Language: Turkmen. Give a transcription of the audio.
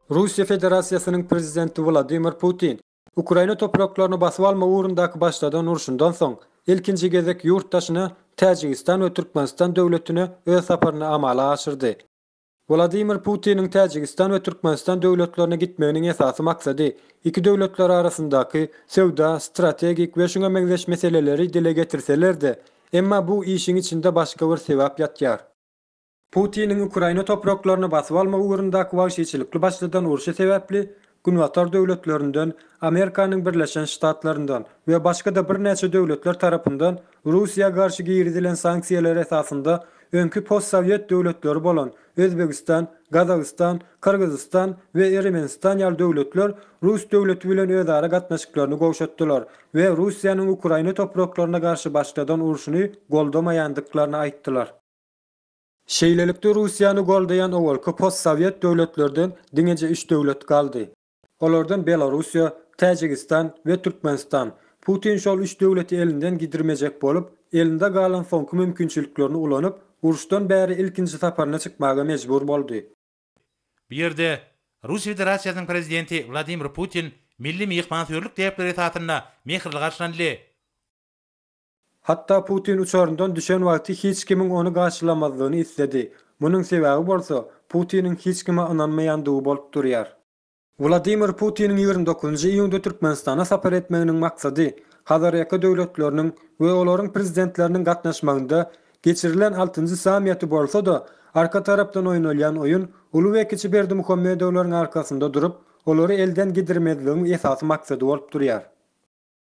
Russiýa Federasiýasynyň Prezidenti Wladimir Putin Ukraina topraklaryny basyp alma ugrundaky başladan urşundan soň, ilkinji gezek ýurt daşyna Täjigistan we Türkmenistan döwletine öz saparyny amala aşyrdy. Wladimir Putiniň Täjigistan we Türkmenistan döwletlerine gitmeginiň esasy maksady iki döwletler arasyndaky söwda, strategik we şuňa meňzeş meseleleri dile getirseler-de, Emma bu işiň içinde başga bir sebäp ýatýar. Putiniň Ukraina topraklaryny basyp almak ugrundaky wagşyçylykly başladan urşy sebäpli Günbatar döwletlerinden, Amerikanyň Birleşen Ştatlaryndan we başga-da birnäçe döwletler tarapyndan Russiýa garşy girizilen sanksiýalar esasynda öňki postsowýet döwletleri bolan Özbegistan, Gazagystan, Gyrgyzystan we Eremenistan ýaly döwletler rus döwleti bilen özara gatnaşyklaryny gowşatdylar we Russiýanyň Ukraina topraklaryna garşy başladan urşuny goldamaýandyklaryny aýtdylar. Şeýlelikde Russiýany goldaýan owalky postsowet döwletlerden diňeje üç döwlet galdy. Olardan Belorussiýa, Täjigistan we Türkmenistan. Putin şol üç döwleti elinden gidirmejek bolup, elinde galan soňky mümkinçiliklerini ulanyp, uruşdan bäri ilkinji saparyna çykmaga mejbur boldy. Bu ýerde Russiýa Federasiýasynyň Prezidenti Wladimir Putin milli myhmansöýerlik däpleri esasynda mähirli garşylandy. Hatda Putin uçaryndan düşen wagty hiç kimiň ony garşylamazlygyny isledi. Munuň sebäbi bolsa, Putiniň hiç kime ynanmaýandygy bolup durýar. Wladimir Putiniň ýigrimi dokuzynjy iýunda Türkmenistana sapar etmeginiň maksady Hazarýaka döwletleriniň we olaryň prezidentleriniň gatnaşmagynda geçirilen altynjy sammiýeti bolsa-da, arka tarapdan oýnalýan oýun uly we kiçi Berdimuhamedowlaryň arkasynda durup, olary elden gidirmezligiň esasy maksady bolup durýar.